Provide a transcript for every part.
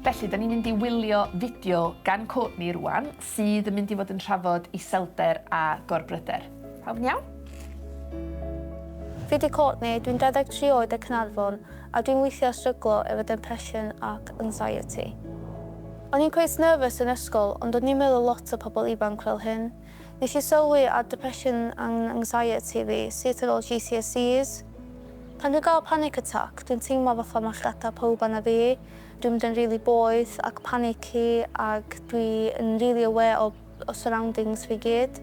Felly, da ni'n mynd i wylio fideo gan Courtney rwan, sydd yn mynd i fod yn trafod iselder a gorbryder. Pawb yn iawn? Fi di Courtney, dwi'n 23 oed o Caernarfon a dwi'n weithio stryglo efo depression ac anxiety. O'n i'n cweit nervous yn ysgol ond o'n i'n meddwl lot o pobl ifanc fel hyn. Nes i sylwi ar depression and anxiety fi syth ar ôl GCSEs. Pan dwi'n gael panic attack dwi'n teimlo fatha ma' llygada pawb arna fi, dwi'n mynd yn rili boeth ac panicky ac dwi yn rili aware o Y surroundings fi gyd.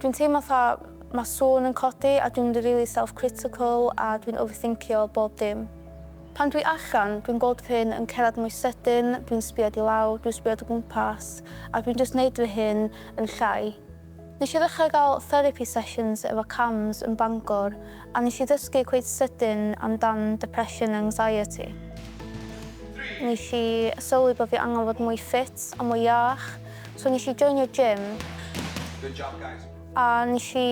Dwi'n teimlo fatha ma sŵn yn codi a dwi'n mynd yn rili self critical a dwi'n overthincio bob dim. Pan dwi allan, dwi'n gweld fy hun yn cerdded mwy sydyn, dwi'n sbïod i lawr, dwi'n sbïod o gwmpas a dwi'n jyst neud fy hun yn llai. Nesh i ddechra ga'l therapi sessions efo Cams yn Bangor A nes i ddysgu cweit sydyn amdan depression and anxiety. Nes i sylwi bo' fi angen fod mwy ffit a mwy iach, so nes i joinio gym. Good job guys. A nes i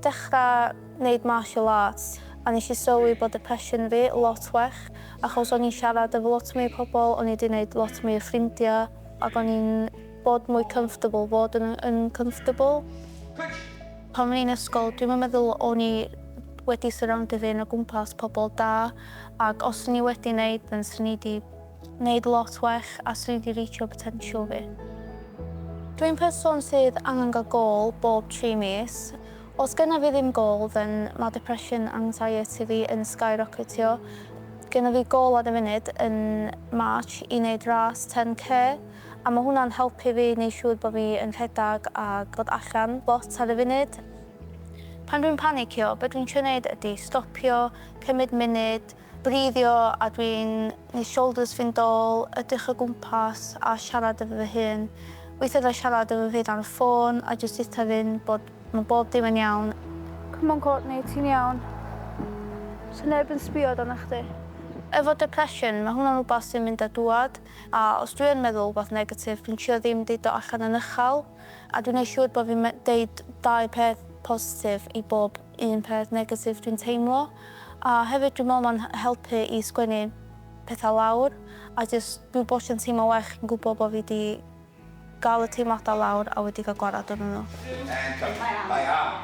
dechra neud martial arts, a nes i sylwi bo' depression fi lot well, achos o'n i'n siarad efo lot mwy o pobol, o'n i 'di neud lot mwy o ffrindia, ac o'n i'n bod mwy comfortable, fod yn yn comfortable. Good! Pan o'n i'n ysgol dwi'm yn meddwl o'n i wedi surroundio fy hun o gwmpas pobl da ac os swn i wedi neud then swn i 'di neud lot well a swn i 'di reachio potential fi. Dwi'n person sydd angen gael gôl bob tri mis. Os gynna fi ddim gôl then ma' depression and anxiety fi yn skyrocketio. Gynna fi gôl ar y funud yn March i neud ras 10k. A ma' hwnna'n helpu fi i neud siŵr bo' fi yn rhedag a bod allan lot ar y funud. Pan dwi'n panicio, be' dwi'n trio neud ydi stopio, cymryd munud, breithio a dwi'n neud shoulders fynd ôl, edrych o gwmpas a siarad efo fy hun. Weithia' dwi siarad efo fi dan y ffôn a jyst deutha fy'n bod ma' bob dim yn iawn. Come on Courtney, ti'n iawn. Sa neb yn sbio arna chdi. Efo depression, ma' hwnna'n wbath sy'n mynd a dŵad. A os dwi yn meddwl wbath negatif, dwi'n trio ddim deud o allan yn ychal, a dwi'n neud siŵr bo fi'n deud dau peth positif i bob un peth negatif dwi'n teimlo. A hefyd dwi'n meddwl ma'n helpu i sgwennu petha lawr, a jyst, dwi wastad yn teimlo well yn gwbo bo fi 'di Gael y teimladau lawr a wedi cael gwared arnyn nhw. Mae am.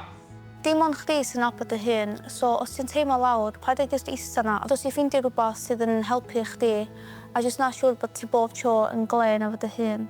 Dim ond chdi sy'n nabod dy hun, so os ti'n teimlo lawr, paid â jyst ista 'na, ond os ti'n ffeindio rhywbeth sydd yn helpu chdi, a jyst wna siŵr bod ti bob tro yn glên efo dy hun.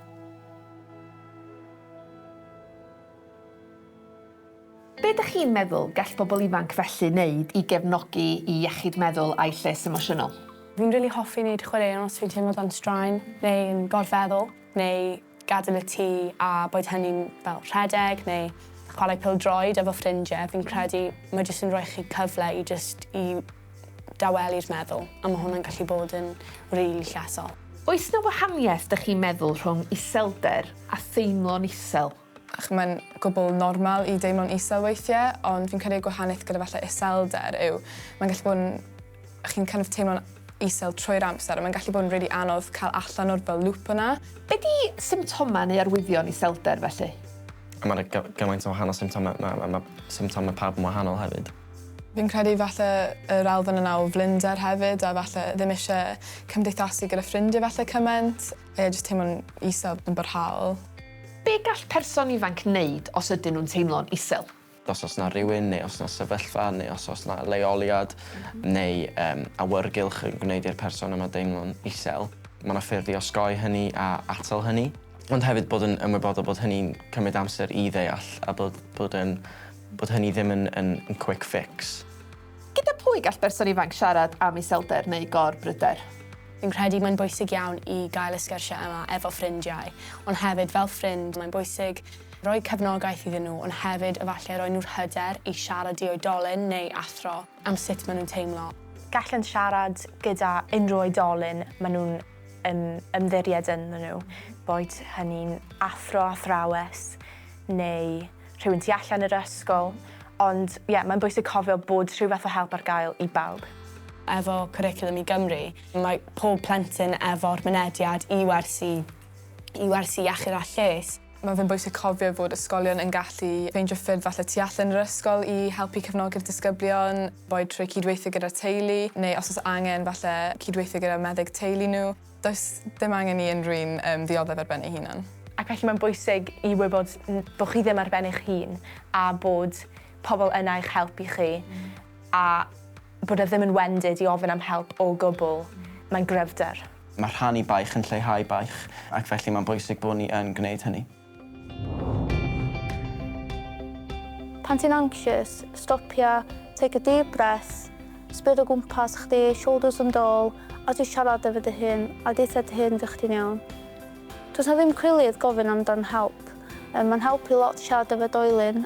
Be dych chi'n meddwl gall pobl ifanc felly neud i gefnogi i iechyd meddwl a'u lles emosiynol? Fi'n rili hoffi neud chwaraeon os fi'n teimlo dan straen neu yn gorfeddwl, neu gadael y tŷ a boed hynny'n fel rhedeg neu chwarae pêl-droed efo ffrindie, fi'n credu mae jyst yn rhoi chi cyfle i jyst i dawelu'r meddwl a ma' hwnna'n gallu bod yn rili llesol. Oes 'na wahaniaeth dych chi'n meddwl rhwng iselder a theimlo'n isel? ac mae'n gwbl normal i deimlo'n isel weithiau, ond fi'n credu y gwahaniaeth gyda falle iselder yw mae'n gallu bod yn... chi'n kind of teimlo'n isel trwy'r amser a mae'n gallu bod yn rili anodd cael allan o'r fel lŵp yna. Be 'di symptomau neu arwyddion iselder felly? Mae 'na gy- gymaint o wahanol symptomau, ma' ma' ma' symptomau pawb yn wahanol hefyd. Fi'n credu falle yr elfen yna o flinder hefyd a falle ddim isie cymdeithasu gyda ffrindie falle cymaint. Ie, jyst teimlo'n isel, yn barhaol. Be gall person ifanc wneud os ydyn nhw'n teimlo'n isel? Os oes yna rhywun neu os yna sefyllfa neu os oes yna leoliad neu yym awyrgylch yn gwneud i'r person yma deimlo'n isel, mae yna ffyrdd i osgoi hynny a atal hynny. Ond hefyd bod yn ymwybodol bod hynny'n cymryd amser i ddeall a bod bod yn bod hynny ddim yn yn yn quick fix. Gyda pwy gall berson ifanc siarad am iselder neu gor-bryder? Fi'n credu mae'n bwysig iawn i gael y sgyrsiau yma efo ffrindiau, ond hefyd fel ffrind mae'n bwysig rhoi cefnogaeth iddyn nhw ond hefyd efallai rhoi nhw'r hyder i siarad i oedolyn neu athro am sut maen nhw'n teimlo. Gallant siarad gyda unrhyw oedolyn maen nhw'n ymddiried ynddo nhw, boed hynny'n athro, athrawes neu rhywun tu allan i'r ysgol, ond ie, mae'n bwysig cofio bod rhyw fath o help ar gael i bawb. Efo Cwricwlwm i Gymru, mae pob plentyn efo'r mynediad i wersi, i wersi iechyd a lles. Mae fe'n bwysig cofio fod ysgolion yn gallu ffeindio ffyrdd falle tu allan i'r ysgol i helpu cefnogi'r disgyblion, boed trwy cydweithio gyda'r teulu, neu os oes angen, falle cydweithio gyda meddyg teulu nhw. Does dim angen i unrhyw un um, ddioddef ar ben ei hunan. Ac felly mae'n bwysig i wybod bod chi ddim ar ben eich hun a bod pobl yna i'ch helpu chi mm. a bod e ddim yn wendid i ofyn am help o gwbl. Mm. Mae'n gryfder. Mae rhannu baich yn lleihau baich ac felly mae'n bwysig bod ni yn gwneud hynny. Pan ti'n anxious, stopia, take a deep breath, sbïa dy gwmpas chdi, shoulders yn dôl, a jyst siarad efo dy hun, a deutha dy hun fy chdi'n iawn. Does 'na ddim cwilydd gofyn amdan help. Yym, mae'n helpu lot siarad efo dy oelin.